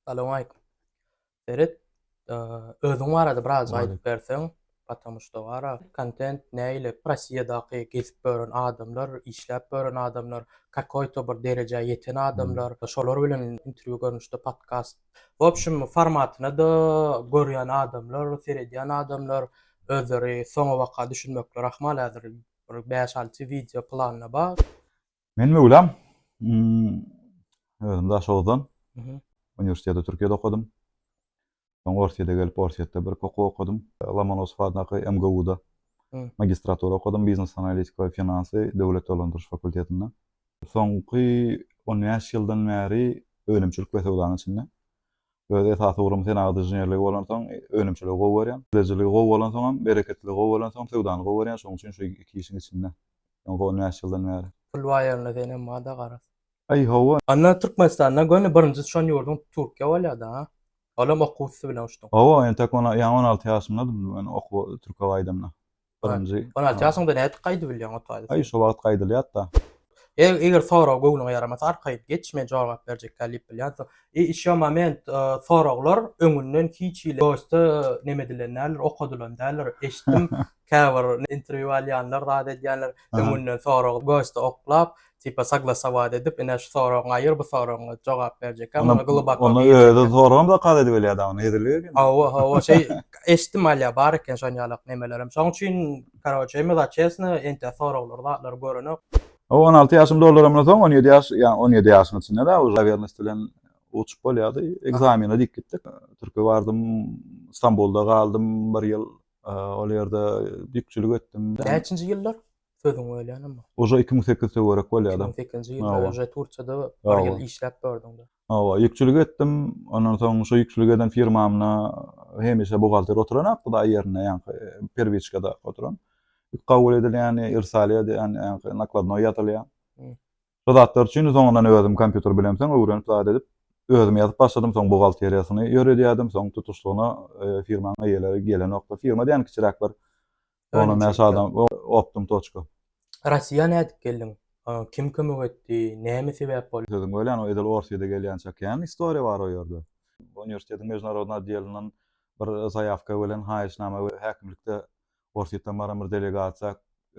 Salam aýykum. Seret, özüň barada biraz aýdyp berseň, Patamu şda wara, kontent näile, Rossiýadaky gezip gören adamlar, işläp gören adamlar, kakoýto bir derejä ýeten adamlar, şolar bilen interwýu görnüşde podkast, w opşum formatyna-da görýän adamlar, seredýän adamlar özleri soňabaka düşünmekleri ahmal häzir bir bäş-alty wideo planda bar. Men möwlam, özüm daş oguzdan. Uniwersiteti Türkiýede okadym. Soň Orsýete gelip, Orsýetde bir okuw okadym. Lomonosow adyndaky MGU-da magistratura okadym, biznes analitika we finansy döwlet dolandyryş fakultetinde. Soňky on bäş ýyldan bäri önümçilik we söwdanyň içinde. Öz esasy ugrum senagat inženerligi bolansoň, önümçiligi gowy görýän. Ilejiligi gowy bolansoňam, bereketliligi gowy bolansoňam söwdany gowy görýän. Şonuň üçin şu iki işiň içinde. Öň gowy näçe ýyldan bäri. Pul bar ýerinde senem barda garaz. Aý hawa. Onda Türkmenistanda göni birinji düşen ýurduň Türkiýe bolýada ha? Olam okuw üsti bilen uçduň. Hawa entek on, ýaňy on alty ýaşymdadym men okuwa Türkiýe gaýdamda. Birinji. On alty ýaşyňda nädip gaýdyp bilýäň ot gaýdasy? Aý, şo wagt gaýdylýar-da. Eý, eger sorag göwnüňe ýaramasa, arkaýyn geç, men jogap berjekkä diýip bilýänsiň. I işo moment, soraglar öňünden hiç hili dosta neme edilen däldir, okadylan däldir. Eşitdim, käbir interwýu alýanlar zat edýänler, öňünden sorag gosta oklap, tipa saglasowat edip, ine şu soragyňy aýyr, bu soragyňy jogap berjekkä, muny gluboko girjekkä. Ony özi soragam zakaz edibilýär dagy, nedirlik eken. Hawa, hawa, şeý eşitdim alýa, bar eken şon ýalak nemelerem. Şoň üçin, karoçe, me za çesno, entä soraglary, zatlary görenok. Hawa, on alty ýaşym doldurymdan soň, on ýedi ýaş, ýa on ýedi ýaşyň içinde-de, uje nawernost bilen uçup bolýardy. Ekzamene diýip gitdik. Türkiýä bardym, Stambulda galdym bir ýyl, ol ýerde ýükçülik etdim. Näçinji ýyllar? Sözüň bölýänem bar. Oža iki müň sekiz töwerek bolýada. Iki müň sekizinji ýylda oža Turkiýada bir ýyl işläp gördüňdä. Hawa, ýükçülik etdim. Ondan soň şo ýükçülik eden firmamda hemişe buhgalter oturan ak hudaý ýerinde ýaňky perwiçkada oturan. Ýük kabul edilýäni, irsal edýäni, ýaňky nakladnoý ýazylýan. Şo zatlar üçin soňundan özüm kompýuter bilemseň öwrenip zat edip özüm ýazyp başladym. Soň buhgalteriýasyny ýöredýädim. Soň tutuşlygyna firmanyň eýeleri gelenokdy. Firma diýýän kiçiräk bir Ona näçe adam optym toçka. Rasiýa nädip geldiň? Kim kömek etdi? Näme sebäp boldy? Sözüň bölen o edil orsýede gelýänçä kän istoriýa bar o ýerde. Uniwersitetiň mejnarodny oddelyndan bir zaýawka bölen haýyşnama we häkimlikde orsýetden baran bir delegasiýa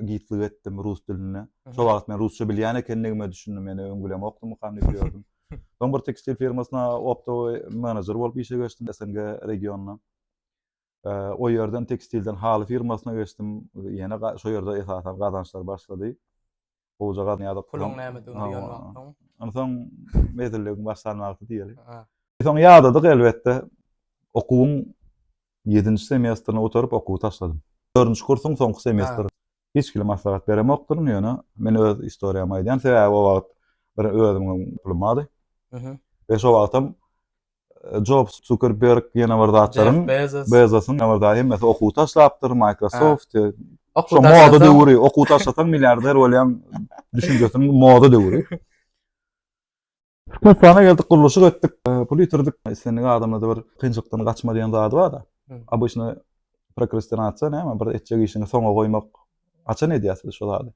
gitlik etdim rus dilinde. Şo wagt men rusça bilýän ekendigime düşündim ýene öň bilemokdymykam diýip ýördüm. Soň bir tekstil firmasyna optowy menejer bolup işe geçdim SNG regionyna. O ýerden tekstilden haly firmasyna geçdim. Ýene şo ýerde esasan gazançlar başlady. Gowja gazanýardyk. Puluň nämedigini duýan wagtyň. Onsoň mezilligiň başlan wagty diýeli. Soň ýadadyk elbetde. Okuwyň ýedinji semestrini gutaryp okuwy taşladym. Dördünji kursuň soňky semestri. Hiç kile maslahat beremokdyryn, ýöne men öz istoriýamy aýdýan, sebäbi o wagt bir özümiň pulum bardy. Mhm. We şo wagtam Job Zuckerberg ýene bir zatlaryň Bezosyň ýene bir zat hemmesi okuw taşlapdyr, Microsoft. Şu moda döwri, okuw taşlasaň milliarder bolýan düşünjesiniň moda döwri. Türkmenistana geldik, gurluşyk etdik, pul ýitirdik. Islendik adamlarda bir kynçylykdan gaçma diýen zady bar-da. Обычно prokrastinatsiýa näme? Bir etjek işiňi soňa goýmak. Haçan edýäs biz şol zady?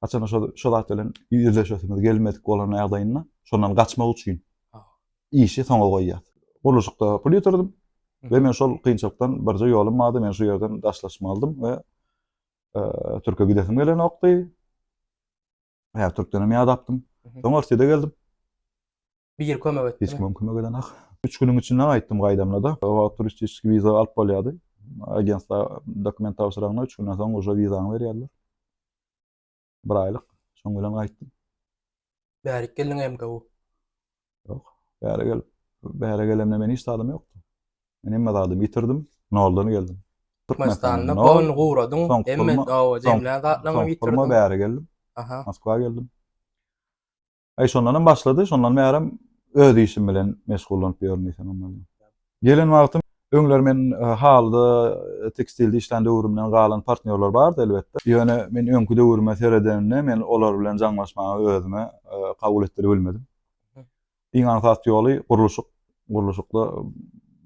Haçan şol şol zat bilen ýüzleşesimiz gelmedik bolan ýagdaýynda, şondan gaçmak üçin işi soňa goýýas. Gurluşykda pul ýitirdim we men şol kynçylykdan birje ýolum bardy, men şu ýerden daşlaşmalydym we e, Türkiýe gidesim gelenokdy. Hä, Türkdenem ýadapdym. Soň Orsýede geldim. Bir ýer kömek etdi. Hiç kim kömek eden ak. Üç günüň içinde gaýtdym gaýdamda da. O wagt turistik wiza alyp bolýardy. Agentda dokument tabşyraňda üç günden soň uja wizaňy berýärler. Bir aýlyk. Şoň bilen gaýtdym. Bärik geldiň MGU. Ýok. Bäri gelip, bäri gelemde men hiç zadym ýokdy. Men hemme zadymy ýitirdim, noldan geldim. Türkmenistanda goýun guradyň, hemme dawa jemlän zatlaryňy ýitirdiň. Soň pulma bäri geldim. Aha. Moskwa geldim. Aý şondan hem başlady, şondan bärem öz işim bilen meşgullanyp ýörün diýsem hem bolýar. Gelen wagtym, öňler men halyda, tekstilde işlän döwrümden galan partnýorlar bardy, elbetde. Ýöne men öňki döwrüme seredenimde, men olar bilen jaňlaşmagy özüme kabul etdiribilmedim. Iň aňsat ýoly gurluşyk. Gurluşykda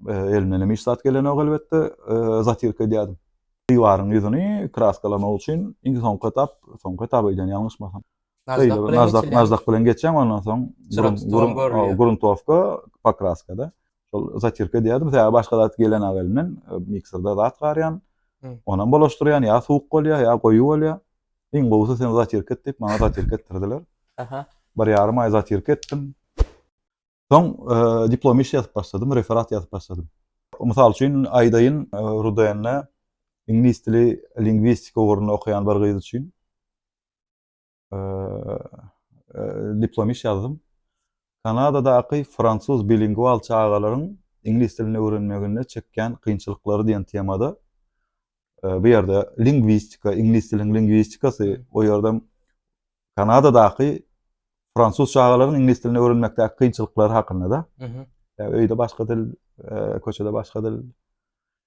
elimdenem hiç zat gelenok, elbetde, zatýrka edýärdim. Diwaryň ýüzüni kraskalamak üçin iň soňky etap, soňky etap öýdýän ýalňyşmasam. Nazdaq bilen nazdaq, nazdaq bilen geçen ondan soň gurun gruntowka pokraskada. Şol zatirka diýerdim. Täze başga zat gelen awelinden e, mikserda zat garýan. Onam bolaşdyrýan, ýa suwuk bolýar, ýa goýy bolýar. Iň gowusy sen zatirka et diýip, maňa zatirka etdirdiler. Aha. Bir ýarym aý zatirka etdim. Soň e, diplom iş ýazyp başladym, referat ýazyp başladym. Mysal üçin, aýdaýyn, e, Rudende iňlis dili lingwistika ugruny okaýan bir gyz üçin diplom iş ýazdym. Kanadadaky fransuz bilingual çagalaryň iňlis dilini öwrenmeginde çekýän kynçylyklary diýen temada bu ýerde lingwistika, iňlis diliniň lingwistikasy, o ýerde Kanadadaky fransuz çagalaryň iňlis dilini öwrenmekdäki kynçylyklary hakynda da. Öýde başga dil, köçede başga dil.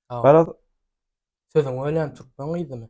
Garaz, sözüň ölen türkmen gyzymy?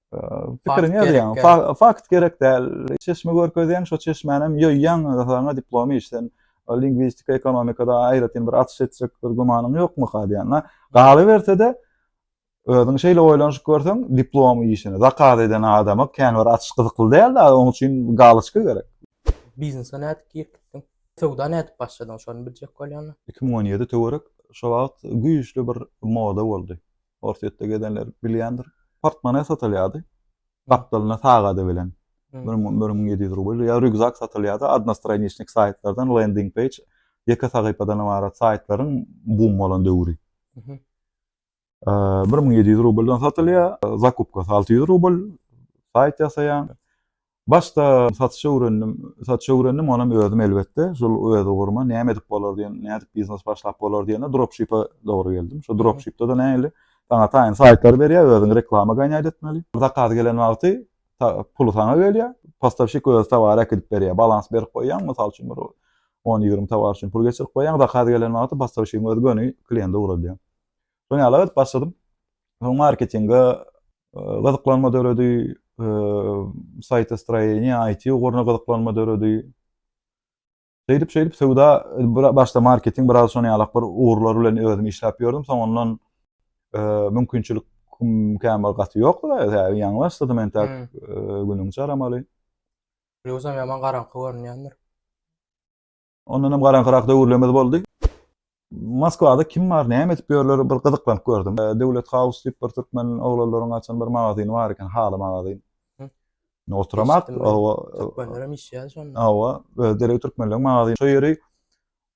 Pikiriňi ýazýaň. Fakt gerek däl. Çeşme görkezýäň, şo çeşmänem ýoýýaň, saňa diplom iş. Sen lingwistika, ekonomikada aýratyn bir açyş etjek bir gümanyň ýokmyka diýen. Galyberse-de, özüň şeýle oýlanyşyp görseň, diplom işini zakaz eden adama kän bir açyş gyzykly däl-de, onuň üçin galoçka gerek. Biznese nädip girip gitdiň? Söwda nädip başladyň, şony biljek bolýan. Iki müň on ýedi töwerek şo wagt güýçli bir moda boldy. Orsýetde gezenler bilýändir. Portmone satylýardy. Gapdalynda sagady bilen. Bir müň, bir müň ýedi ýüz rubl. Ýa rýukzak satylýardy. Odnostraniçnik saýtlardan, lending peýj, ýeke sahypadan ybarat saýtlaryň bum bolan döwri. Bir müň ýedi ýüz rubldan satylýar. Zakupkasy alty ýüz rubl. Saýt ýasaýaň. Başda satyşa öwrendim. Satyşa öwrendim, onam özüm elbetde, şol öz uguruma näme edip bolar diýen, nädip biznes başlap bolar diýende dropshipe dogry geldim. Şo dropshipde-de nähili, saňa taýyn saýtlary berýär, özüň reklama gaýnat etmeli. Zakaz gelen wagty puly saňa gelýär, postawşik özi towary äkidip berýär. Balans berip goýýaň, mysal üçin bir on-ýigrimi towar üçin pul geçirip goýýaň, zakaz gelen wagty postawşigiň özi göni kliýente ugradýar. Soň ýala edip başladym. Soň marketinge gyzyklanma döredi, saýta stroýeniýa, IT uguruna gyzyklanma döredi. Şeýdip, şeýdip söwda başda marketing biraz şony ýalak bir ugurlar bilen özüm işläp ýördüm. Soň ondan mümkinçilik käm bir gaty ýokdy da, ýa ýaňy başladym entek günüň çaramaly. Ýogsam ýaman garaňky görünýändir. Ondan hem garaňkyrak döwürlerimiz boldy. Moskwada kim bar, näme edip ýörler, bir gyzyklanyp gördüm. E, Döwlet House diýip bir türkmen oglanlaryň açan bir magazyny bar eken, haly magazyn. Ne oturamak, owa. Türkmenler hem işýär şonda. Owa, derek türkmenleriň magazyny. Şo ýeri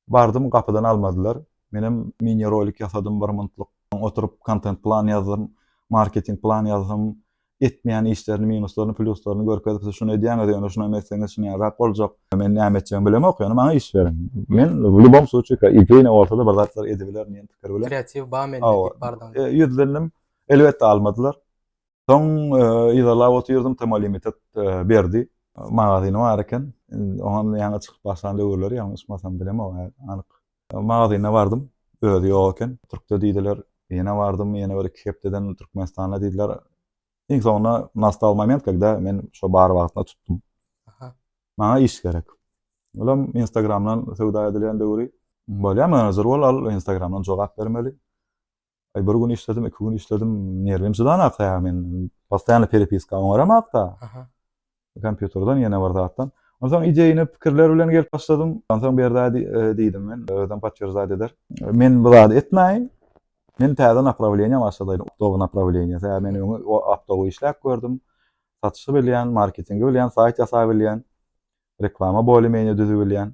bardym, gapydan almadylar. Men hem mini rolik ýasadym bir minutlyk. Oturyp kontent plan ýazdym, marketing plan ýazdym. etmeýän işlerini minuslaryny plýuslaryny görkezip siz şuny edýäňiz ýöne şuny etseňiz şuny ýarak boljak men näme etjegimi bilemok ýöne maňa iş beriň men w lýubom sluçika ideýne bolsada bir zatlar edibilerin diýen pikir bilen kreatiw ba mende diýip bardyň e, ýüzlendim elbetde almadylar soň e, yzarlap otyrdym tema limitet e, berdi magazyny bar eken oňa ýaňy çykyp başlan döwürleri ýalňyşmasam bilemok anyk Magazyna bardym. Özi ýok eken. Türkde diýdiler. Ýene bardym, ýene bir iki hepdeden Türkmenistanda diýdiler. Iň soňunda nastal moment kegde men şo bar wagtyna tutdum. Maňa iş gerek. Olam Instagramdan söwda edilýän döwri. Bolýamy, zerur bol al Instagramdan jogap bermeli. Aý bir gün işledim, iki gün işledim, nerwim çydanakda ýa men postaýanly perepiska oňaramakda. Aha. Kompýuterden ýene bir zatdan. Onsoň ideýini pikirler bilen gelip başladym. Onsoň berda e, diýdim men, özüm potwierdzat eder. Men bu zady etmäýin. Men täze naprawleniýa başladaýyn, optowy naprawleniýa. Tä men öňe optowy işläp gördüm. Satyşy bilýän, marketingi bilýän, saýt ýasap bilýän, reklama bolýan, düzüp bilýän.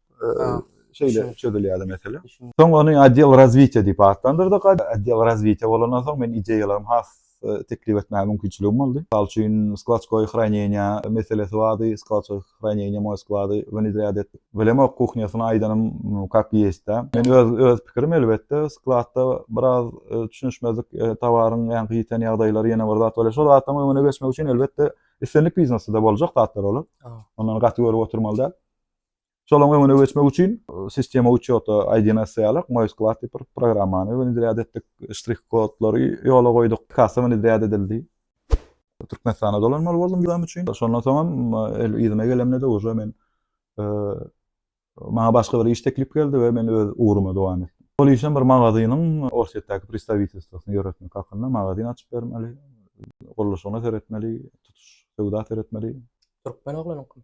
şeýle çözülýärdi mesele. Soň ony Odel razwitiýa diýip atlandyrdyk. Odel razwitiýa bolandan soň men ideýalarymy has teklip etmäge mümkinçiligim boldy. Mysal üçin, skladskoýe hraneniýa meselesi bardy. Skladskoýe hraneniýa moý sklady wnedrýat etdik. Bilemok, kuhnýasyny aýdanym kak ýeşdä. Men öz öz pikirim elbetde, skladda biraz düşünişmezlik, towaryň ýaňky ýiten ýagdaýlary ýene bir zat bolýar. Şol zatlaryň öňüne geçmek üçin elbetde islendik biznesde-de boljak zatlar olar. Ondan gaty görüp oturmaly däl. Şolaryň öňüne geçmek üçin sistema uçota IDNS ýalyk MoiSklad diýip bir programmany wenedýad etdik. Ştrih kodlary ýola goýduk. Kassa wenedýad edildi. Türkmenistana dolanmaly boldum wizam üçin. Şondan soňam el yzyma gelemde-de uje men maňa başga bir iş teklip geldi we men öz ugruma dowam etdim. Ol işem bir magazynyň Orsýetdäki pristawitelstwosyny ýöretmek hakynda. Magazyn açyp bermeli, gurluşygyna seretmeli, tutuş söwda seretmeli. Türkmen oglanyňkymy?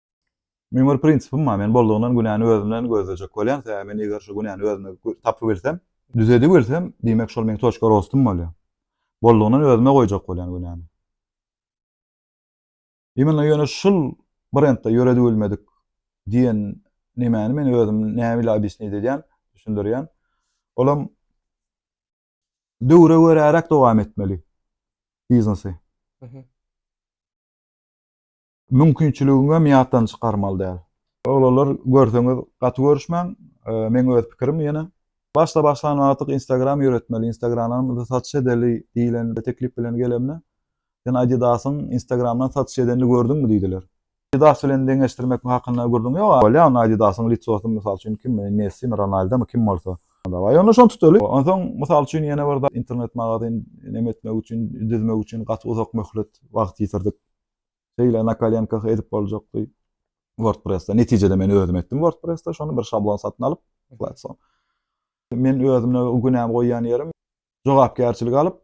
Meň bir prinsipim bar, men boldugyndan günäni özümden gözlejek bolýan, sebäbi men eger şu günäni özümde tapybilsem, düzedibilsem, diýmek şol meň toçka rostym bolýar. Boldugyndan özüme goýjak bolýan günäni. Imенно ýöne şul brendde ýöredibilmedik diýen nemäni men özüm näme ile obýasnit edýän, düşündirýän. Olam döwre göräräk dowam etmeli biznesi. Mümkinçiligiňem ýatdan çykarmaly däl. Oglanlar görseňiz gaty görüşmäň meň öz pikirim ýene. Başda başlan wagtyk instagram ýöretmeli instagramdan satyş edeli diýlen bir teklip bilen gelemde sen adidasyň instagramdan satyş edenini gördüňmi diýdiler. Adidas bilen deňeşdirmek hakynda gürrüň ýok. Bolýa onda adidasyň litsosy mysal üçin kim messimi ronaldomy kim bolsa. Dawaý onda şony tutaly. Onsoň mysal üçin ýene bir zat internet magazyn neme etmek üçin düzmek üçin gaty uzak möhlet wagt ýitirdik. Şeýle na kolenkah edip boljakdy. WordPress-de netijede men özüm etdim WordPress-de şony bir şablon satyn alyp, platform. Men özümde günämi goýýan ýerim jogapkärçilik alyp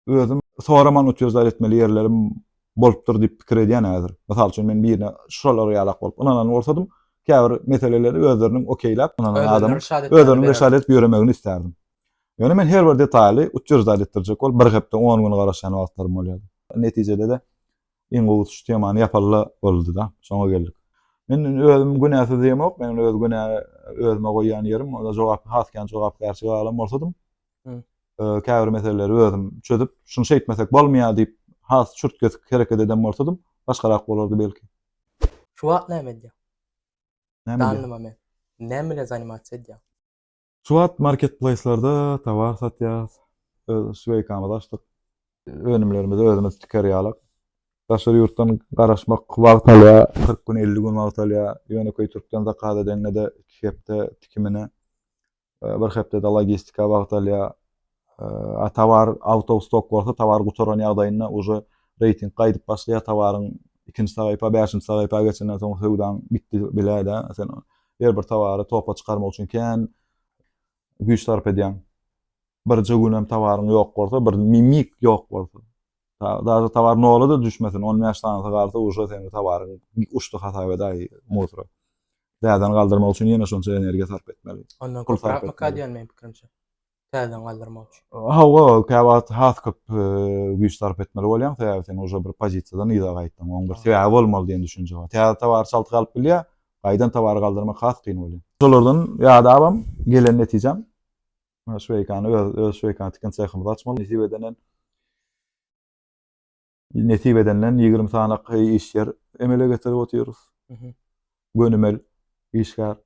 özüm soraman utýozlar etmeli ýerlerim bolupdyr diýip pikir edýän häzir. Mysal üçin men birine şular ýalak bolup ynanan bolsadym, käbir meseleleri özleriniň okeýläp ynanan adam özlerini reşat edip ýöremegini isterdim. Ýöne men her bir detaly utýozlar etdirjek bolup bir hepde 10 gün garaşýan wagtlarym bolýardy. Netijede-de iň gowy utuş temany ýapalla boldy-da, şoňa geldik. Men özüm günäsiz diýemok, meniň öz günä özüme goýýan ýerim, onda jogap, has kän jogapkärçilik alan bolsadym, käbir meseleleri özüm çözüp, şuny şeýtmesek bolmaýar diýip, has çürt-kesik hereket eden bolsadym, başgarak bolardy belki. Şu wagt näme edýäň? Näme edýäň? Näme bilen zanimasiýa edýäň? Şu wagt marketplaýslarda tovar satýarys. Öz sweýkamyzy açdyk. Önümlerimizi özümiz tiker ýalyk. Daşary ýurtdan garaşmak wagt alýar, kyrk gün, elli gün wagt alýar. Ýönekeý türkden zakaz edeňde-de iki hepde tikimine, bir hepde-de logistika wagt alýar. A towar out of stock bolsa towar gutaran ýagdaýynda uje reýting gaýdyp başlaýar towaryň ikinji saýypa bäşinji saýypa geçenden soň söwdaň gitdi biläýdä sen her bir towary topa çykarmak üçin kän güýç sarp edýäň birje gün hem towaryň ýok bolsa bir mimik ýok bolsa daže towar nola da düşmesin on bäş sanysy galsa uje seň towaryň uçdy hasap edäý muzra täzeden galdyrmak üçin ýene şonça energiýa sarp etmeli onda köpräk mykadýan meň pikirimçe täzeden galdyrmak üçin. Hawa, kä wagt has köp güýç sarp etmeli bolýaň, sebäbi sen uje bir pozisiýadan yza gaýtdyň. Oň bir sebäbi bolmaly diýen düşünje bar. Täze towary çalty galyp bilýär, gaýdan towary galdyrmak has kyn bolýar. Şolardan ýadabam, gelen netijäm, şweýkany öz şweýkany tiken sehimizi açmaly. Nesip edenden Nesip edenden 20 sany iş ýer emele getirip otyrys. Gönümel işgär.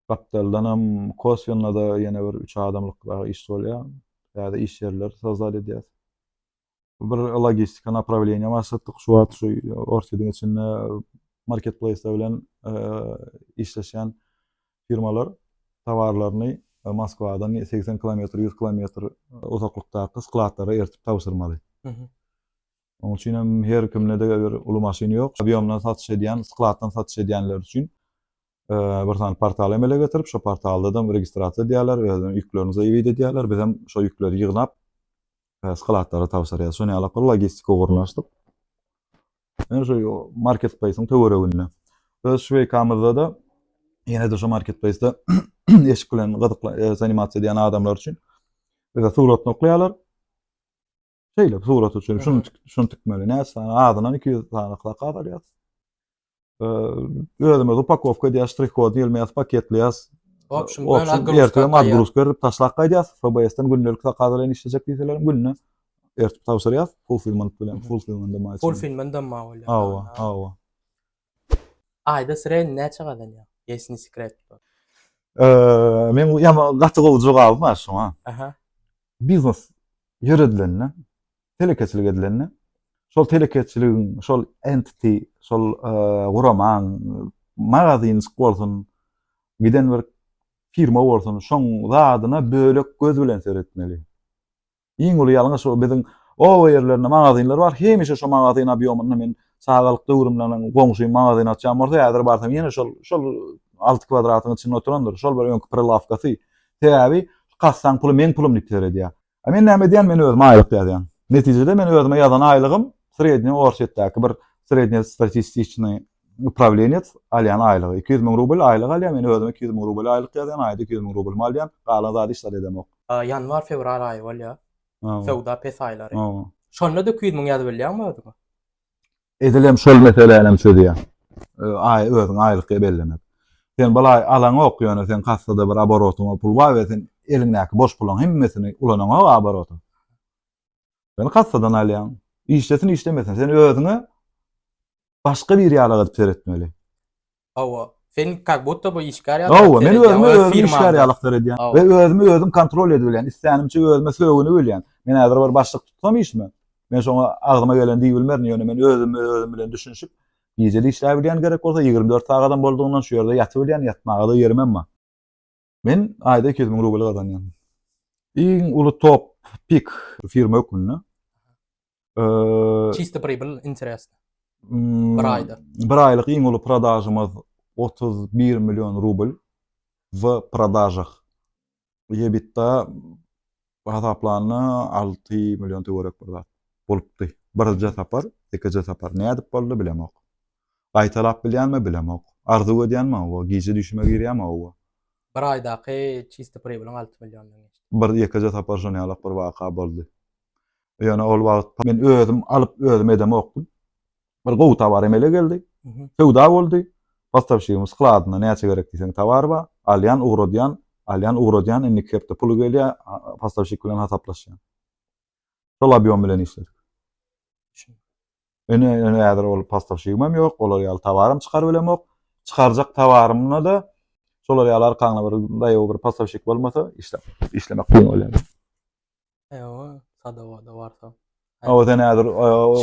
Gapdaldan hem koswenda da ýene bir 3 adamlyk dagy iş bolýar. Täze iş ýerler sozat edýäs. Bir logistika naprawleniýa başlatdyk. Şu wagt şu Orsýetiň içinde marketplaýslar bilen işleşýän firmalar towarlaryny Moskwadan segsen kilometr, ýüz kilometr uzaklykdaky skladlara eritip tabşyrmaly. Onuň üçin hem her kimde-de bir uly maşyn ýok. Obýomdan satyş edýän, skladdan satyş edýänler üçin bir sany portal emele getirip, şo portalda-da registrasiýa edýärler, özüniň ýüklerini zaýewit edýärler. Biz hem şo ýükleri ýygnap, skladlara tabşyrýarys. Şonuň ýaly logistiki ugurlaryny açdyk. Ýene şu marketpleýsiň töwereginde. Öz şweýkamyzda-da ýene-de şu marketpleýsde eşik bilen gyzykla e, zanimasiýa edýän adamlar üçin bize suratyny okaýarlar. Şeýle surat üçin şuny şuny tikmeli. Näçe sany? Azyndan 200 sany zakaz alýas. Özümiz upakowka edýäs, ştrih-kod diýilmeýäs, paketleýäs. Opşin, ertire madgrusk berip taşlap gaýdýas. FBS-den gündelik zakaz bilen işlejek diýseler günde Ertip tabşyrýas, fulfillment bilen, fulfillment de maýçy. Fulfillment de maý bolýar. Hawa, hawa. Aýda sredni näçe gazanýaň? Ýesi ni sekret bu. Eee, men bu ýama gaty gowy jogaby bar şoňa. Aha. Biznes ýöredilende, telekeçilik edilende, şol telekeçiligiň, şol entity, şol guramaň, magazynjyk bolsun, giden bir firma bolsun, şoň zadyna bölek göz bilen seretmeli. Iň uly ýalňyş o biziň oba ýerlerinde magazinler bar hemişe şo magazin obýomynda men çagalyk döwrümden goňşym magazin açýan bolsa häzir barsam ýene şol şol alty kwadratyň içinde oturandyr şol bir öňki prilawkasy sebäbi kassaň puly meň pulum diýip seredýä a men näme edýän men özüme aýlyk ýazýan netijede men özüme ýazan aýlygym srednýe orsýetdäki bir srednýe statistiçnyý upravleniýet alýan aýlygy iki ýüz müň rubl aýlyk alýan men özüme iki ýüz müň rubl aýlyk ýazýan aýda iki ýüz müň rublymy alýan galan zady hiç zat edemok Ýanwar fewral aýy bolýar. Söwda pes aýlary. Şonda da iki ýüz müň ýazyp bilýäňmi özüňe? Edil hem şol meselänäm çözýär. Aý özüňe aýlyk ge bellemek. Sen balaý alaňok ýöne sen kassada bir aborotyňa pul bar we sen eliňdäki boş puluň hemmesini ulanaňok aborota. Sen kassadan alýaň. Işlesin işlemesin sen özüňe başga bir ýala gazyp seretmeli. Hawa. Sen kak budda bu işgär ýaly. Hawa, men özümi özüm işgär ýaly seredýän we özümi özüm kontrol edibilýän, islänimçe özüme sögünibilýän. Men häzir bir başlyk tutsam işime, men şoňa agzyma geleni diýibilmerin, ýöne men özüm özüm bilen düşünişip, gije-de işläbilýän gerek bolsa, ýigrimi dört sagadam boldugyndan şu ýerde ýatybilýän, ýatmaga-da ýerimem bar. Men aýda iki ýüz müň rubl gazanýan. Iň uly top pik firma hökmünde. Çisti pribl interes. Hmm, bir aýda. Bir aýlyk iň uly prodažymyz 31 million rubl w prodažah. Ýebitda Bir hasaplanda alty million töwerek bir zat bolupdy. Birje sapar, ikije sapar. Nädip boldy bilemok. Gaýtalap bilýänmi bilemok. Arzuw edýänmi hawa, gije düýşüme girýärmi hawa. Bir aýdaky çisti pribylyň alty milliondan geçdi. Bir ýekeje sapar şon ýalak bir waka boldy. Ýöne ol wagt men özüm alyp özüm edemokdym. Bir gowy tovar emele geldi. Söwda boldy. Postawşigimiz skladynda näçe gerek diýseň tovar bar. Alýan, ugradýan, alýan, ugradýan, indiki hepde puly gelýär, postawşik bilen hasaplaşýan. Şol obýom bilen işledik. Ene, ene häzir ol postawşigim hem ýok, olar ýaly towarym çykaryp bilemok. Çykarjak towarymda-da şolar ýaly arkaňda bir daýaw bir postawşik bolmasa, işläp, işlemek kyn bolýar. Ewa, sadawada barsa. Awa sen häzir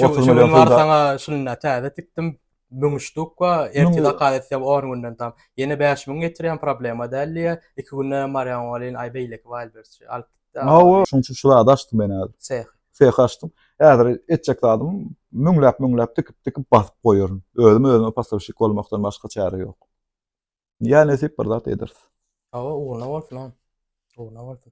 otuz milyon pul sana şunda täze tikdim. Mümüşdük we erti zakaz etsem 10 günden tam. Yine 5000 getirýän problema däl diýe. 2 günde marýan bolýan ay beýleki wal bersi. Alyp gitdi. Awa, şuň üçin şu zady açdym men häzir. Seh. Seh açdym. Häzir etjek zadym müňläp müňläp tikip tikip basyp goýaryn. Özüm özüme pastavşik bolmakdan başga çäre ýok. Ýa nesip bir zat ederis. Awa, ugruna bolsun. Ugruna bolsun.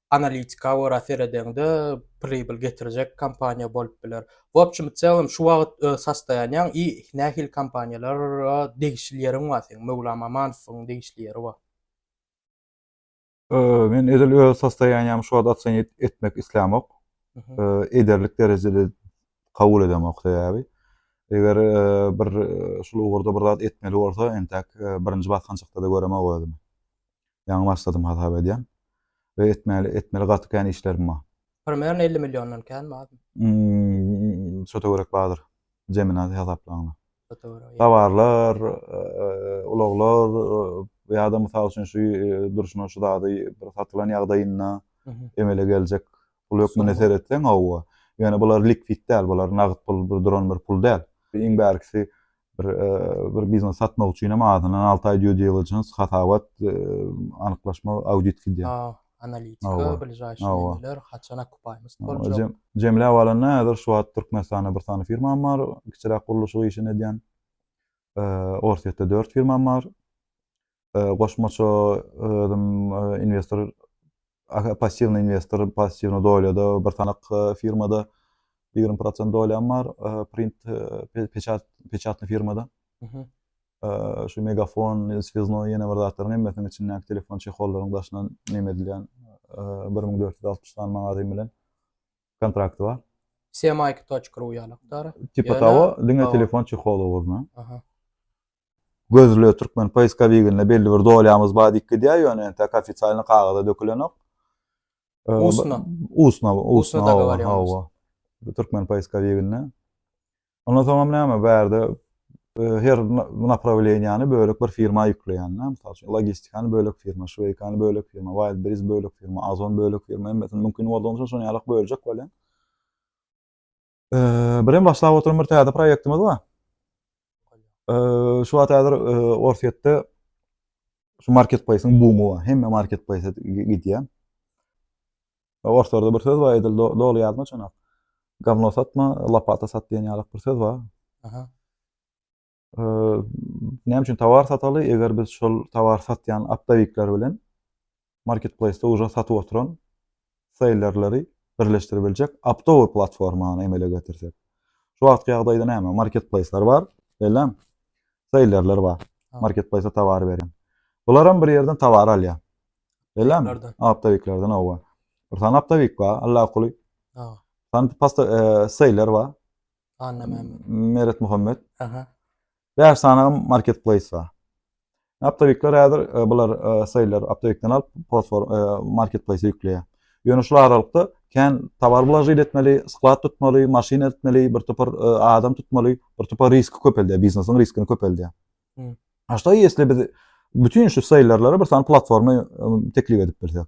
analitika görä seredeňde pribyl getirjek kompaniýa bolup biler. W opçim i celom şu wagyt öz sastoýanýaň i nähili kompaniýalara degişli ýeriň bar seň Möwlam Amanowyň degişli ýeri bar. Men edil öz sastoýanýamy şu wagyt ocenit etmek islämok. Ederlik derejede kabul edemok sebäbi eger bir şul ugurda bir zat etmeli bolsa entäk birinji basgançakda-da göremok özümi. Ýaňy başladym hasap edýän. We etmäli etmeli gaty kän işlerim bar. Primerno elli milliondan känmi azmy? Imm şota görek bardyr. Jemina hasaplaňda. Şota görek. Dawarlar, ulaglar ýa-da mysal üçin şu durşuna şu zady bir satylan ýagdaýynda emele geljek pul hökmünde seretseň hawa. Ýöne bular likwitt däl, bular nagt pul bir duran bir pul däl. Iň bärkisi bir bir biznes satmak üçin hem azyndan alty aý due diligence hasabat anyklaşma audit gidýär. Analitika, biljaýşy nemeler, haçan okupaymiz boljak. Jemläp alanda häzir şu wagt Türkmenistanda bir sany firmam bar, kiçiräk gurluşyk işini edýän. Orsýetde dört firmam bar. goşmaça özüm inwestor passiwny inwestor passiwny dolýada bir sanak firmada ýigrimi prosent dolýam bar print peçat peçatny firmada şu megafon swizno ýene bir zatlaryň hemmesiniň içindäki telefon çehollaryň daşyna neme edilýän bir müň dört ýüz altmyş sany magazin bilen kontrakt bar semaiki.ru ýalakdar tipa tawa diňe telefon çeholy bolma Gözle türkmen poiskoviginde belli bir dolýamyz bar diýip gidýär, ýöne entäk ofitsialny kagyza dökülenok. Ustno. Ustno, ustno dogovar ýa-da. Türkmen poiskoviginde. Ondan soňam näme bärde her naprawleniýany bölek bir firma ýükleýänler, mysal üçin, logistikany bölek firma, şweýkany bölek firma, Wildberries bölek firma, Ozon bölek firma, hemmesini mümkin boldugyňça şonuň ýaly böljek welin, Birem başlap oturan bir täze proýektimiz bar. Şu wagt häzir Orsýetde şu marketplaýsyň bumy bar. Hemme marketplaýsa gidýär. Orslarda bir söz bar, edil doly ýadyma çynak. Gavno satma, lopata sat diýen ýaly bir söz bar. Aha. näme üçin towar sataly, eger biz şol towar satýan optowikler bilen marketplaýsda uje satyp oturan seýlerleri birleşdirip biljek optowy platformany emele getirsek. Şu wagtky ýagdaýda näme? Marketplaýslar bar, beýlem. Seýlerler bar. Marketplaýsa towar berýän. Bular hem bir ýerden towar alýar. Beýlem. Optowiklerden owa. Bir sany optowik bar, allakuly. Sany pasta e, seýler bar. Annamämmet. Meret Muhammet. Aha. Bäş sany marketplace bar. Aptawikler häzir e, bular e, seýler aptawikden alyp fosfor e, marketplace ýükleýär. Ýöne şu aralykda kän tower blažit etmeli, sklad tutmaly, maşyn etmeli, bir topar e, adam tutmaly, bir topar riski köpeldýär, biznesiň riskini köpeldýär. Hmm. Aşda ýesli biz bütün şu seýlerlere bir sany platforma e, teklip edip bilsek.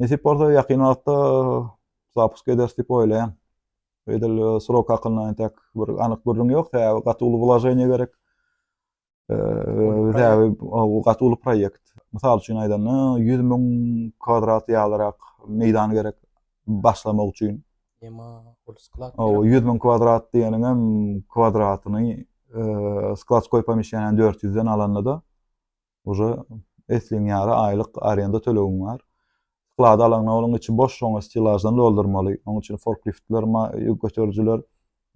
Nesip bolsa ýakyn wagtda zapusk ederis diýip oýlaýan. Edil srok hakynda entek bir anyk gürrüň ýok. Sebäbi gaty uly wlaženiýe gerek. Sebäbi gaty uly proýekt. Mysal üçin aýdanda 100 müň kwadrat ýalyrak meýdan gerek başlamak üçin. Ýema ol sklad. O 100 müň kwadrat diýeniň hem kwadratyny skladskoý pomissiýany 400-den alanda-da Uje esliň ýary aýlyk arenda tölegiň bar. Sklad alaňda onuň içi boş, şoňa stilaždan doldurmaly. Onuň üçin forkliftler, ýük göterijiler,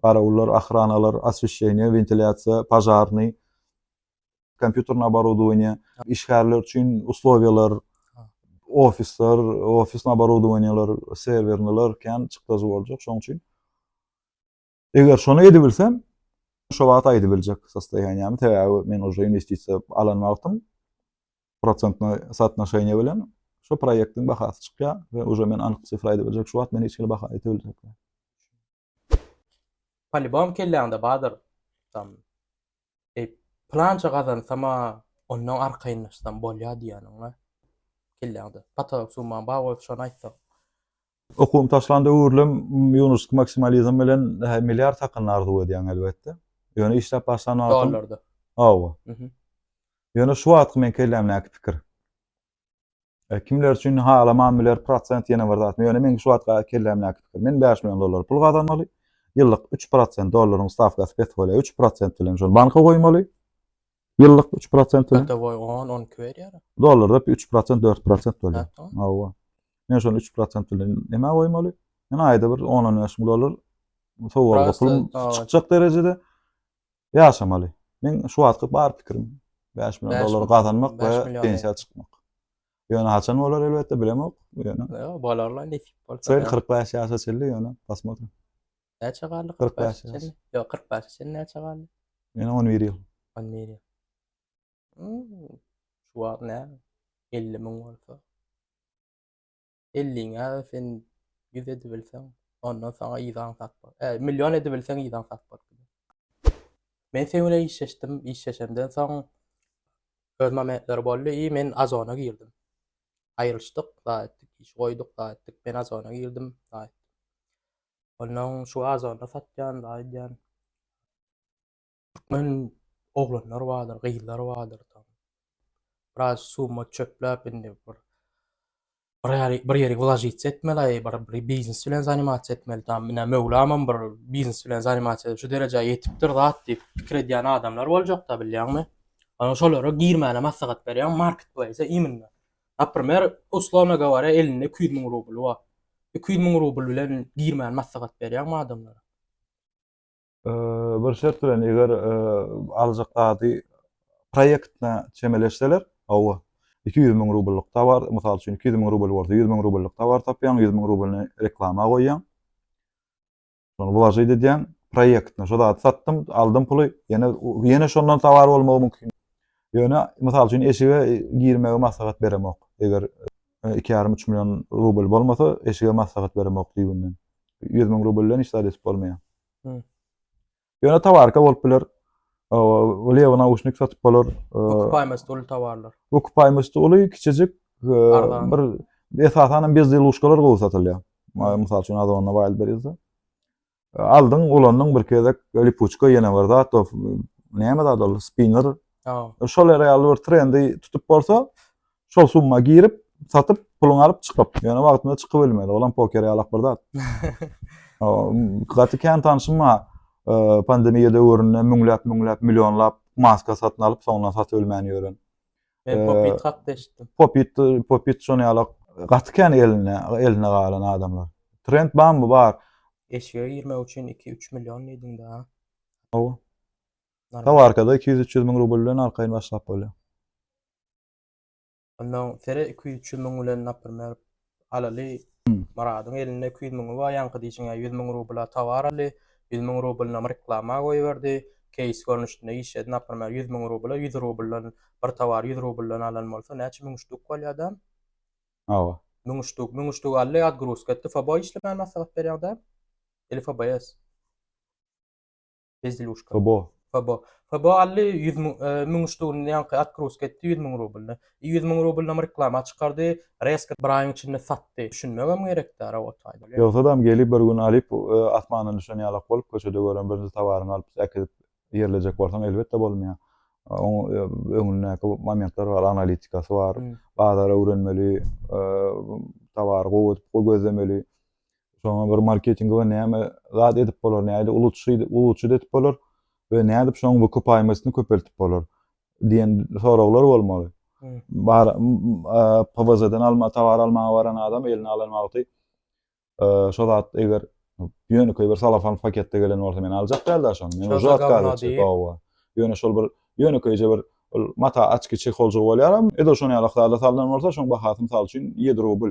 garawullar, ahranalar, osweşeniýe, wentilýasiýa, pažarnyý, kompýuterni oborodowaniýe, işgärler üçin uslowiýalar, ofisler, ofisni oborodowaniýeler, serwerniler, kän çykdajy boljak. Şoň üçin Eger şony edibilsem, şu wagt aýdybiljek sostoýaniýämi, sebäbi men uje investisiýa alan wagtym prosentnoý sootnoşeniýe bilen şu proýektiň bahasy çykýar we uje men anyk sifra aýdybiljek, şu wagt men hiç hili baha aýdybiljek. Polibom kelläňde bardyr. Tam eý, plança gazansam-a, ondan arkaýynlaşsam bolýar diýýäniň-a kelläňde. Potolok summam bar bolsa şony aýtsaň. Okuwymy taşlanda öwrülem ýunuslyk maksimalizm bilen milliard hakyny arzuw edýäň elbetde. Ýöne işläp başlan wagtym. Dollarda. Hawa. Ýöne şu wagtky meň kellämdäki pikir. E, kimler üçin halaman biler prosent ýene bir zat. Ýöne meň şu wagtky kellämdäki pikir. Men 5 million dollar pul gazanmaly. Ýyllyk 3% dollaryň stawkasy pes bolýar. 3% bilen şony banka goýmaly. Ýyllyk üç prosent bilen. Godowoý on, on iki berýär. Dollarda üç prosent, dört prosent bolýar. Ýatdym. Hawa. Men şony üç prosent bilen nämä goýmaly? Men aýda bir on, on bäş müň dollar sowgatga Prosta, pulum hawa. çykjak derejede ýaşamaly. Meň şu wagtky bar pikirim bäş million Bäş dollar million, gazanmak bäş we million, pensiýa çykmak. Ýöne haçan bolar elbetde bilemok. Ýöne Ýa, bolar-la, nesip bolsa. şeýle kyrk bäş ýaşa çenli ýöne posмотрим. Näçe galdy? 45 ýaş. Ýok, 45 çenli näçe galdy? Meniň 11 ýyl. 11 ýyl. Hmm. Şu wagt nä? 50 müň bolsa. 50 ňä sen 100 edip bilseň, ondan saňa ýylan satma. E, million edip bilseň ýylan satma. Men sen bilen işleşdim, işleşenden soň öz momentleri boldy i men azona girdim. Aýrylyşdyk, gaýtdyk, iş goýduk, gaýtdyk. Men azona girdim, gaýtdyk. Ondan şu azanda satýan, aýdýan. Türkmen oglanlar bardyr, gyzlar bardyr. Biraz summa çöpläp indi bir bir ýeri bir ýeri wlažitsiýa etmeli, bir bir biznes bilen zanimasiýa etmeli. Tam ine Möwlamam bir biznes bilen zanimasiýa edip şu derejä ýetipdir zat diýip pikir edýän adamlar boljakda bilýäňmi? Onuň şolara girmäne maslahat berýän marketplaýsa iminle. Naprimer, uslowno goworýa, elinde iki ýüz müň rubly bar. Iki ýüz müň rubl bilen girmäni maslahat berýäňmi adamlara? Bir şert bilen, eger aljak zady proýektine çemeleşseler, hawa, iki ýüz müň rubllyk towar, mysal üçin, iki ýüz müň rubl bolsa, ýüz müň rubllyk towar tapýaň, ýüz müň rublyny reklama goýýaň. Wlažit edýän proýektine şo zady satdym, aldym puly, ýene ýene şondan sawar bolmagy mümkin. Ýöne mysal üçin eşige girmegi maslahat beremok. Eger e, iki ýarym üç million rubl bolmasa, eşige maslahat beremok düýbünden. Ýüz müň rubl bilen hiç zat edip bolmaýar. Ýöne tawarka bolup biler. O lewa nauşnik satyp bolar. Okupaýmasy uly tawarlar. Okupaýmasy uly kiçijik bir esasan hem bezli luşkalar gowy satylýar. Mysal üçin Azonda Wildberries-de. Aldyň, ulandyň bir gezek lipuçka ýene bir zat, näme zat ol spinner. Şol ýaly bir trendi tutup bolsa, Şol summa girip, satyp, puluny alyp çykyp. Ýöne wagtynda çykyp ölmeli. Olam poker ýalak bir zat. Gaty kän tanşym bar. Pandemiýa döwründe müňläp, müňläp, millionlap maska satyn alyp, soňundan satyp ölmän ýören. Men popit hakda eşitdim. Popit, popit şony ýalak. Gaty kän eline, eline galan adamlar. Trend barmy? Bar. Eşige girmek üçin 2-3 million diýdiň-de. Hawa. Tawarkada 200-300 müň rubl bilen arkaýyn başlap bolýar. Ondan sere iki ýüz çü müň bilen napyr mer alaly Myradyň elinde iki ýüz müňi bar ýaňky diýşiňä ýüz müň rubla towar aldy ýüz müň rublynam reklama goýberdi keýs görnüşinde işledi napyr mer ýüz müň rubla ýüz rubldan bir towar ýüz rubldan alan bolsa näçe müň ştuk bolýar da hawa müň ştuk müň ştuk aldy odgruzka etdi fbo işlemäni maslahat berýäň da ili fbs. Bezdeluşka. Fobo. Fobo. Fobo aldy 100 müň, e, müň ştugun ýaňky atkrusk etdi 100 müň rublyny. 100 müň rublyny reklama çykardy, reska bir aýyň içinde satdy. Düşünmegem gerekdi ara otaýda. Ýogsadam gelip bir gün alyp, e, asmandan düşen ýalak bolup köçede gören birinji towaryňy alyp äkidip ýerlejek bolsaň elbetde bolmaýar. Oň e, öňündäki momentler bar, analitikasy bar. Bazary öwrenmeli, e, towary gowy edip gözlemeli. Şoňa bir marketingi we näme zat edip bolar, näde uluçy, uluçy edip bolar we nädip şoň wykupaymasyny köpeltip bolar diýen soraglar bolmaly. Bar PVZ-den alma towar almaga baran adam eline alan wagty şo zat eger ýönekeý bir salafan paketde gelen bolsa men aljak däldi şony. Men uzat galdy. Owa. Ýöne şol bir ýönekeýje bir mata açky çekoljugy bolýar. Ede şony alak zada salnan bolsa şoň bahasy mysal üçin 7 rubl.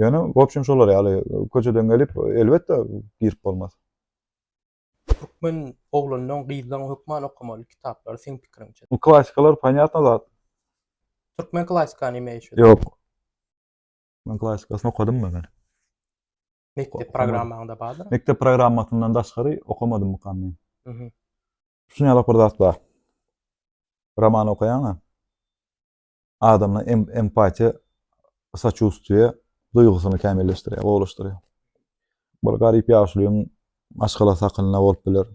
Ýöne wobşem şolar ýaly köçeden gelip elbetde girip bolmaz. Türkmen oglanlaň gyzlaň hökman okamaly kitaplary seň pikiriňçe. Bu klasikalar panyatna zat. Türkmen klasika nime eşit? Ýok. Men klasikasyny okadym men hany. Mekdep programmaňda bardyr. Mekdep programmasyndan daşgary okamadym mukam men. Mhm. Düşünýärlik bir zat bar. Roman okaýaňa. adamda empatiýa, saçustiýe duýgusyny kämilleşdirýär, gowulaşdyrýar. Bir garyp ýaşulyň maşgala sakynlygy bolup biler.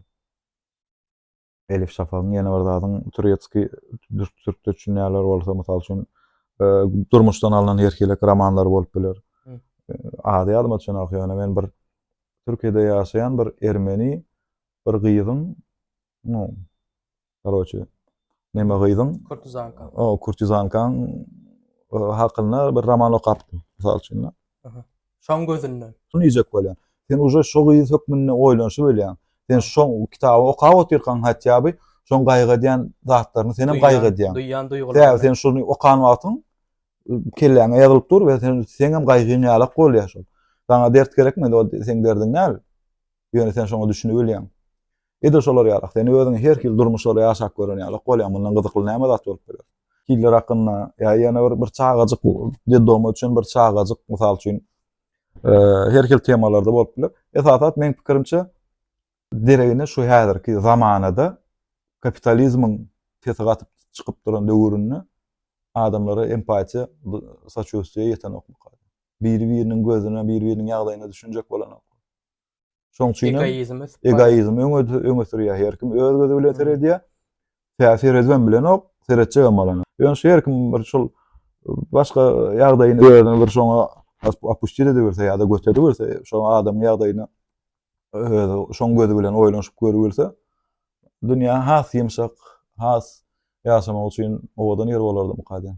Elif Şafagyň ýene bir zadyň turetski türkçe düşünýärler bolsa, mysal üçin, e, durmuşdan alnan erkilek romanlary bolup biler. E, ady ýadyma düşenok, ýöne men bir Türkiýede ýaşaýan bir ermeni bir gyzyň Koroçi. Neme gyzyň? Kurtizanka. O, kurtizankaň hakynda bir roman okapdym, mysal üçin. Şoň gözünden. Şuny ýek bolýan. Sen uje şo gyz hökmünde oýlanyşy bolýan. Sen şo kitaby okap otyrkaň hatýa bi şoň gaýgadýan zatlaryny sen hem gaýgadýan. Duýýan duýgularyny. Däl, sen şuny okan wagtyň kelläňe ýazylyp dur we sen sen hem gaýgyň ýalak bolýar şol. Saňa dert gerekmedi, o seň derdiň näl? Ýöne sen şoňa düşünip ölýäň. Edil şolar ýalak, sen özüňi her hili durmuşlarda ýaşap gören ýalak bolýaň, mundan gyzykly näme zat bolup biler? Hiller hakynda, ýa ýene bir, bir çagajyk, dedoma üçin bir çagajyk, mysal üçin, her hili temalarda bolup biler. Esasat, meň pikirimçe, deregine şu häzirki zamanada kapitalizmiň tesig atyp çykyp duran döwründe adamlara empatiýa, saçustiýa ýetenok. Biri-biriniň gözüne, biri-biriniň ýagdaýyna düşünjek bolanok. Şoň üçin egoizm ösüp Egoizm öňe öňe sürýär. Her kim öz gözi bilen seredýär. Tä seredibem bilenok, seretjegem bolany. Ýöne şu her kim bir şol başga ýagdaýyny özüni bir şoňa opustir ediberse ýa-da göteriberse, şo adamyň ýagdaýyna özi şoň gözi bilen oýlanyşyp görübilse, dünýä has ýumşak, has ýaşamak üçin owadan ýer bolardymyka diýen.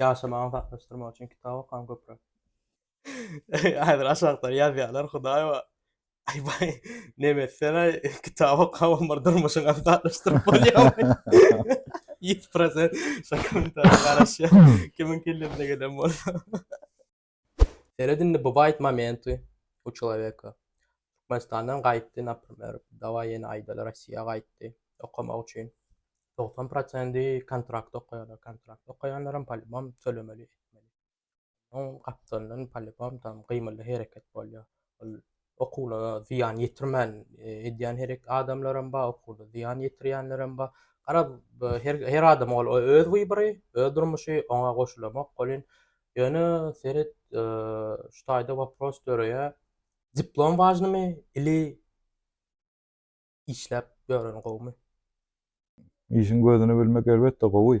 Ýaşamagyny saklaşdyrmak üçin kitap okaň köpräk. Häzir aşakda ýazýarlar hudaýba. Aý baý, nemes sen aý kitap okap omar durmuşyňy aňsatlaşdyryp bolýarmy? Ýüz prosent şo kommentariýa garaşýan kimiň kellesine gelen bolsa. Seret indi bywaýt momenty u çeleweka. Türkmenistandan gaýtdy naprimer daway ýene aýdaly Rossiýa gaýtdy okamak üçin. Togsan prosendi kontrakt okaýarlar kontrakt okaýanlaram polibom tölemeli etmeli. Oň gapdalyndan polibom tam gymylly hereket bolýar. Ol okuwlara zyýan ýetirmän e, edýän herek adamlaram bar, okuwda zyýan ýetirýänlerem bar. Garaz, her her adam ol öz wybry, öz durmuşy, oňa goşulamok bolýan. Ýöne seret, e, şu taýda wapros döreýär. Diplom wažnymy ili işläp ýören gowumy? Işiň gözüni bilmek elbetde gowy.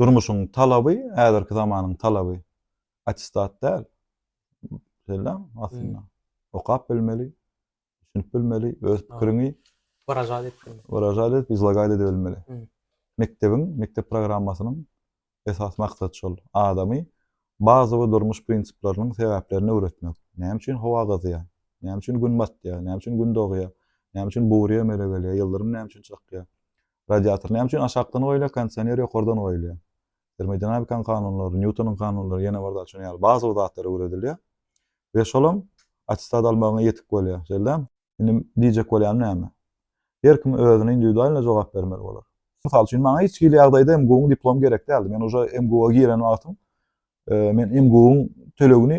Durmuşyň talaby, häzirki zamanyň talaby attestat däl. Şeýle aslynda. Okap bilmeli, düşünip bilmeli, öz pikiriňi wyražat edip bilmeli. Wyražat edip, izlagaýt edip bilmeli. Mekdebiň, mekdep programmasynyň esas maksady şol. Adamy bazawy durmuş prinsiplarynyň sebäplerini öwretmek. Näme üçin howa gyzýar? Näme üçin gün batýar? Näme üçin gün dogýar? Näme üçin bury emele gelýär? Ýyldyrym näme üçin çakýar? Radiator näme üçin aşakdan goýulýar, kondisioner ýokardan goýulýar? Termodinamikanyň kanunlary, Nýutonyň kanunlary, ýene bir zat şonuň ýaly bazawy zatlar öwredilýär we şolam attestat almagyňa ýetik bolýar, şeýle. Indi diýjek bolýanym näme? Her kim özüne indiwidualno jogap bermeli bolar. Mysal üçin, maňa hiç hili ýagdaýda MGU-nyň diplomy gerek däldi. Men uje MGU-a giren wagtym, men MGU-nyň tölegini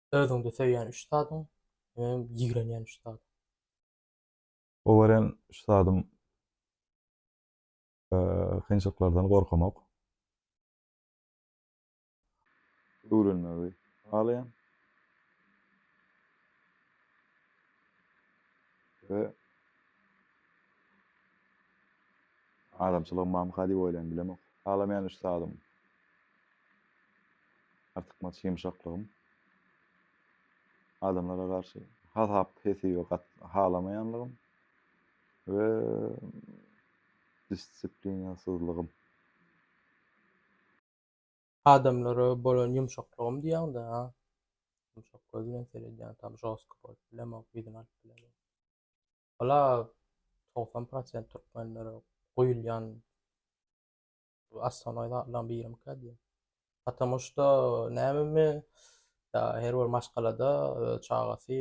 Özüňde söýýän üç zadyň we ýigrenýän üç zadyň. Gowaran üç zadym kynçylyklardan gorkamak. Öwrenmegi halaýan. We adamçylygym mamyka diýip oýlan bilemok. Halamaýan üç zadym. Artykmaç ýumşaklygym adamlara garşy hasap-hesibi gat halamaýanlygym we disiplinasizligim. Adamlara bolan ýumşaklygym diýýäňdä ha. Ýumşak göz bilen seredýän tam žostky bolup bilemok, yzyny alyp bilemok. Wala togsan prosent türkmenlere guýulýan Astanoý zatlaryň birimikä diýýär. Patamu şda nämemi ýa her bir maşgalada öz çagasy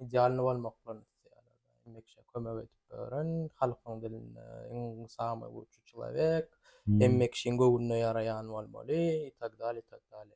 idealnyý bolmaklaryny isleýärler. Indi kişä kömek edip öwren, halkyň dilinde iň samy lutçy çylaýbek, hemme kişiň göwnüne ýaraýan bolmaly i tak dale, i tak dale.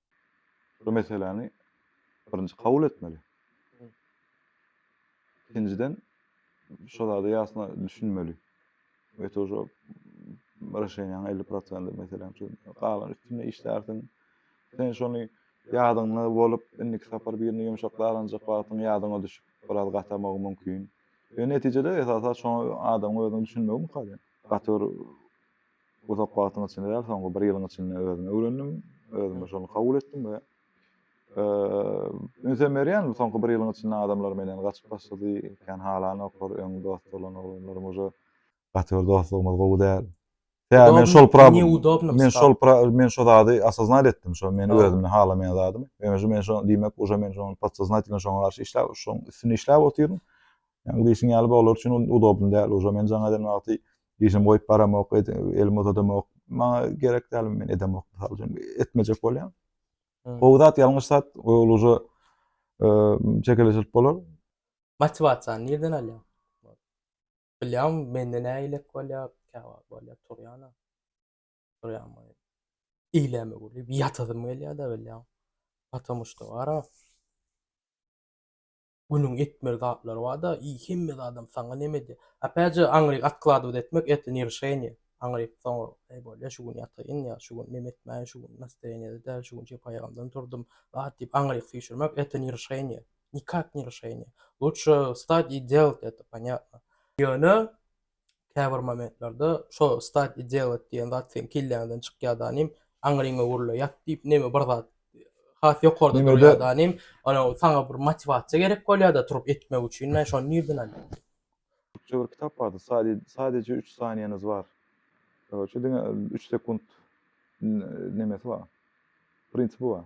bir meseläni birinji kabul etmeli. Ikinciden şu zada ýasyna düşünmeli. Ve to şu Raşenýaň 50 prosenti meselem şu galan üstünde işlärsiň. Sen şony ýadyňda bolup, indiki sapar birini ýumşak daranjak wagtyň ýadyňa düşüp, biraz gatamagy mümkin. Ve netijede esasa şoňa adamyň özüniň düşünmegi mukadem. Gaty bir Uzak wagtyň içinde däl, soňky bir ýylyň içinde özüm öwrendim, özüm şony kabul etdim we ünsem berýän bu soňky bir ýylyň içinde adamlar menden gaçyp başlady, kän halanoklar, öň dost bolan oglanlarym uje gaty bir dostlugymyz gowy däl. Ýa men şol pra men şol pra men şo zady asoznat etdim, şo meni özümden halamaýan zadymy. Ýöne şu men şo diýmek uje men şo podsoznatelno şoňa garşy işläp, şoň üstünde işläp otyryn. Ýa bu işiň ýaly bolar üçin udobny däl, uje men jaň eden wagty Işim goýup baramok, elimi uzadamok. Maňa gerek däl, men edemok. Mysal üçin, etmejek bolýan. Gowy zat, ýalňyş zat, ol uja çekeleşilip bolar. Motiwasiýany nirden alýaň? Bilýän, mende näme elek bolýar, käwagt bolýar, turýana. Turýan bolýar. Iýläme gürlüp, ýatasym gelýär-de, bilýän. Patomu şto, ara. Günüň etmeli zatlary barda i hemme zadam saňa nemedi. Opet je aňryk atkladovat etmek etli ne rişeniye. Aňryk soňra eý bolýa şu gün ýataýyn ýa şu gün neme etmäýin şu gün nastoýenýede däl şu gün jepaýagymdan turdym zat diýip aňryk süýşürmek etli ne rişeniye. Nikak ne rişeniye. Lutşe stad i delt eto panyatno. Ýöne Käbir momentlerde şo stati delat diýen zat seň kelläňden çykýada inim, aňryňa gurla ýat diýip neme bir zat has ýokarda durýada inim, ol saňa bir motiwasiýa gerek bolýada turup etmek üçin, men şony nirden alýan? Türkçe bir kitap bardy, sadeje üç saniýeniz bar, şu diňe üç sekunt nemesi bar, prinsipi bar.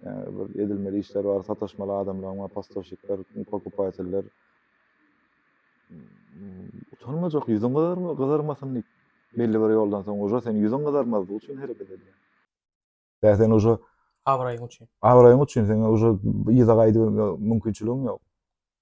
Ýa-da bir edilmeli işler bar, sataşmaly adamlaryň bar, postoşikler, pokupaýteller. Utanmajak, ýüzüň gyzarma, gyzarmasyn diýip, belli bir ýoldan soň uje sen ýüzüň gyzarmazlygy üçin hereket edýäň. Ýa sen uje Abraýyň üçin. Abraýyň üçin sen uje yza gaýdybermäge mümkinçiligiň ýok.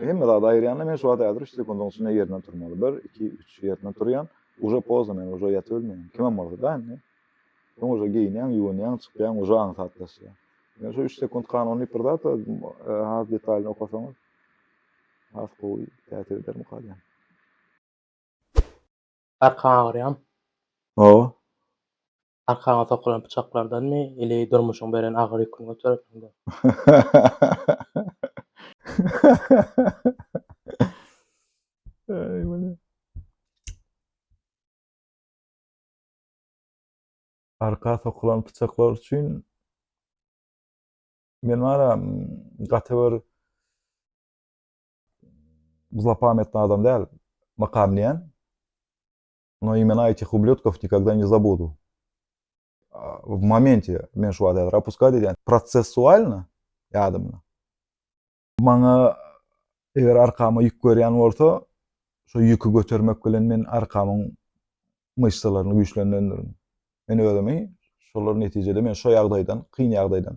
Hemme zady aýyrýan-da, men şu wagt häzir üç sekundyň içinde ýerimden turmaly. Bir, iki, üç, ýerimden turýan. Uje pozdno, men uje ýatyp ölmeýän. Kimem bolsa-da indi. Soň uje geýinýän, ýuwunýan, çykýan, uje aňsatlaşýan. Men şu üç sekund kanun diýip bir zat has detalyny okasaňyz, has gowy täsir edermi kalýan. Arkaň agyrýamy? Hawa. Arkaňa sokulan pyçaklardanmy, ili durmuşyň beren agyr ýüküni göterersiňdä? Aý, wele. Arka sokulan pyçaklar üçin men wara gaty bir zlopametny adam däl, mykam diýen. No imena etih ublyotkov nikogda ne zabudu. W momentie men şu wada rapuska diýen prosessualna ýadymda. Maňa eger arkama ýük berýän bolsa, şu ýüki götermek bilen men arkamyň myşsalaryny güýçlendirendirin. Men özümi şolar netijede men şu ýagdaýdan, kyn ýagdaýdan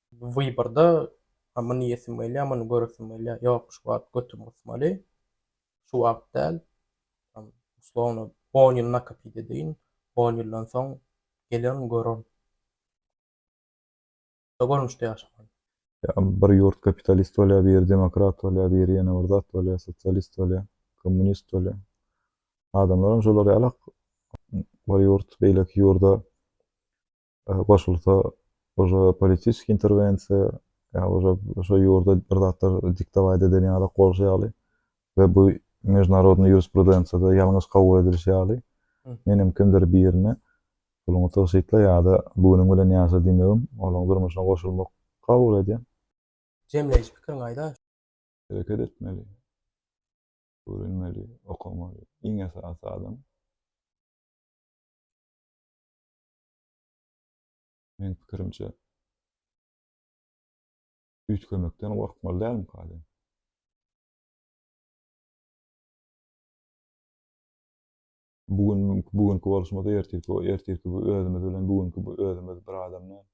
Bu wyborda a muny iýesim gelýär, muny göresim gelýär, ýok şu wagt götüm gysmaly, şu wagt däl, tam uslowno on ýyl nakapyt edeýin, on ýyldan soň gelerin, görerin. Şu görnüşde ýaşamaly. Ýa bir ýurt kapitalist bolýar, biri demokrat bolýar, biri ýene bir zat bolýar, sosialist bolýar, kommunist bolýar. Adamlaram şolar ýalak. Bir ýurt beýleki ýurda goşulsa ože politiski interwensiýa ýa ože şo ýurda bir zatlar diktowaýt eden ýaly goşy ýaly we bu mežunarodny ýurisprudensiýada ýalňyş kabul edilişi ýaly men hem kimdir birine puluňy tygşytla ýa-da bugüniň bilen ýaşa diýmegim olaň durmuşyna goşulmak kabul edýän. Jemleýiş pikiriňi aýda. Hereket etmeli. Öwrenmeli, okamaly. Iň esasy adam. Meň pikirimçe, üýtgemekden gorkmaly dälmika diýen. Bu gün bu günki boluşymyz ertirki ertirki bu özümiz bilen bu günki bu özümiz bir adam däl.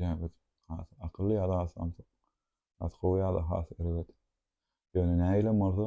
Ýa biz has akylly ýa-da has samsyk. Has gowy ýa-da has erbet. Ýöne nähilem bolsa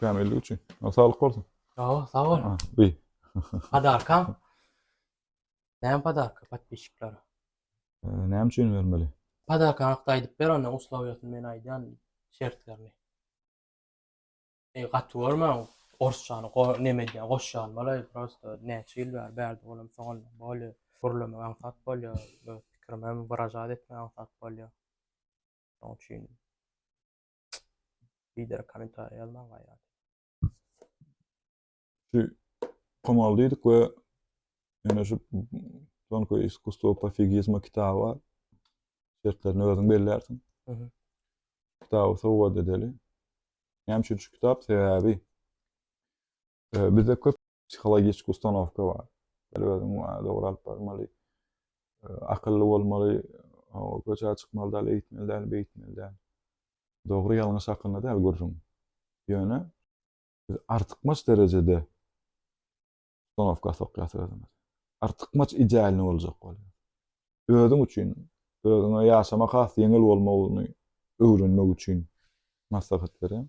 Kämillik üçin. O saglyk bolsun. Sag ol, sag ol. Ha, bi. Padarkam. Näme padarka podpisçiklere? Näme üçin bermeli? Padarka hakda aýdyp ber onda uslawiýasyny men aýdýan şertlerini. E gaty görme orsçany go neme edýän goşýan bolaý prosto näçe ýyl bäri bärde bolam soňam bolýa gürlemek aňsat bolýa öz pikirimi hem wyražat etmek aňsat bolýa. Şoň üçin Bider kommentariýa ýazmaň gaýrat. Şu pomal diýdik we ýöne şu Tonko iskustvo pofigizma kitaby bar. Şertlerini özüň bellersin. Mhm. Kitaby sowgat edeli. Näme üçin şu kitap? Sebäbi Ee, bizde köp psihologik ustanovka bar. Her özüň maňa dogry alyp barmaly, ee, akylly bolmaly, köçä çykmaly däl, eýitmeli däl, beýitmeli däl. Dogry ýalňyş hakynda däl gürrüň. Ýöne biz artykmaç derejede ustanowka sokýas özümiz. Artykmaç idealny boljak bolýar. Özüň üçin, özüňe ýaşamak has ýeňil bolmagyny öwrenmek üçin maslahat berýän.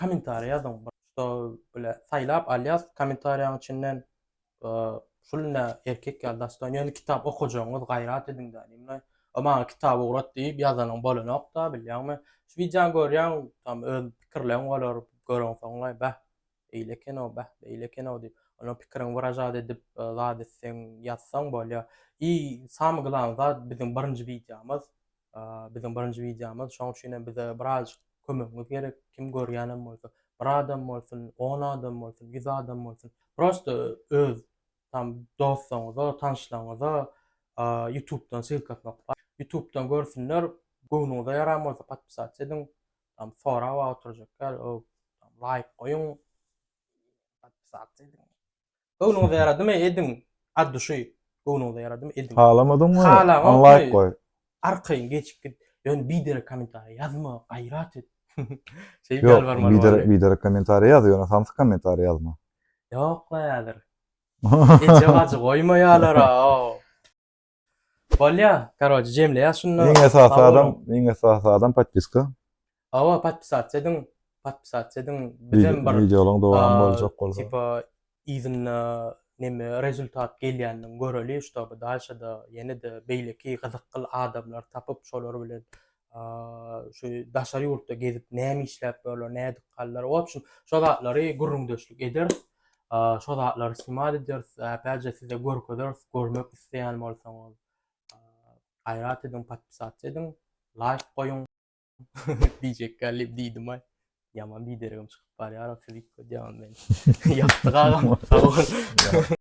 Kommentariýa ýazyň bir şuda bile saýlap alýas kommentariýaň içinden şul nä erkek ýaly dastan ýöne kitap okajagyňyz gaýrat ediň dä diýme o maňa kitap ugrat diýip ýazanyň bolanokda bilýäňmi şu wideony görýäň tam öz pikirleň bolar göreňsoňlaý bäh eýle ekenow bäh beýle ekenow diýip onuň pikiriň wyražat edip zat etseň ýazsaň bolýa i samy glany zat biziň birinji wideomyz Biziň birinji wideomyz, şoň üçin hem bize birazjyk kömegiňiz gerek. Kim görýänem bolsa, bir adam bolsun, on adam bolsun, ýüz adam bolsun, prosta öz tam dostuňyza, tanyşlaryňyza ýutubdan ssylkasyny okap, ýutubdan görsünler, göwnüňize ýaran bolsa podpisat ediň, tam sorap-a oturjaklar, laýk goýuň, podpisat ediň. Göwnüňize ýaradymy ediň od duşy göwnüňize ýaradymy ediň. Halamadyňmy? Halaňokmy? Unlike goý. Arkaýyn geçip git. Ýöne biderek kommentariýa ýazma, gaýrat et. Şeýdip Ýok, ýalbarmaly biderek barly. biderek kommentariýa ýaz, ýöne samsyk kommentariýa ýazma. Ýok-la häzir. Eje-bajy goýmaýalar-a-ow. Bolýa, karoçe jemleýas şunda. Iň esasy adam, iň esasy adam podpiska. Awa podpisasiýa ediň, podpisasiýa ediň. Bizem bir wideolaryň dowamy boljak bolsa. Tipa yzynda neme rezultat gelýänini göreli, ştoby daşada ýene-de beýleki gyzykly adamlar tapyp, şolar bilen şu daşary ýurtda gezip näme işläp ýörler, nädip galdylar. O üçin şu zatlary gürrüňdeşlik ederis. Şu zatlary simat ederis. Äpälje size görkezeris, görmek isleýän bolsaňyz. Gaýrat ediň, podpisat ediň, laýk goýuň. Diýjek geldi, diýdim aý. Ýaman bidergim çykyp barýar, sizi ködýärin men. Ýagty gagam, sag bol.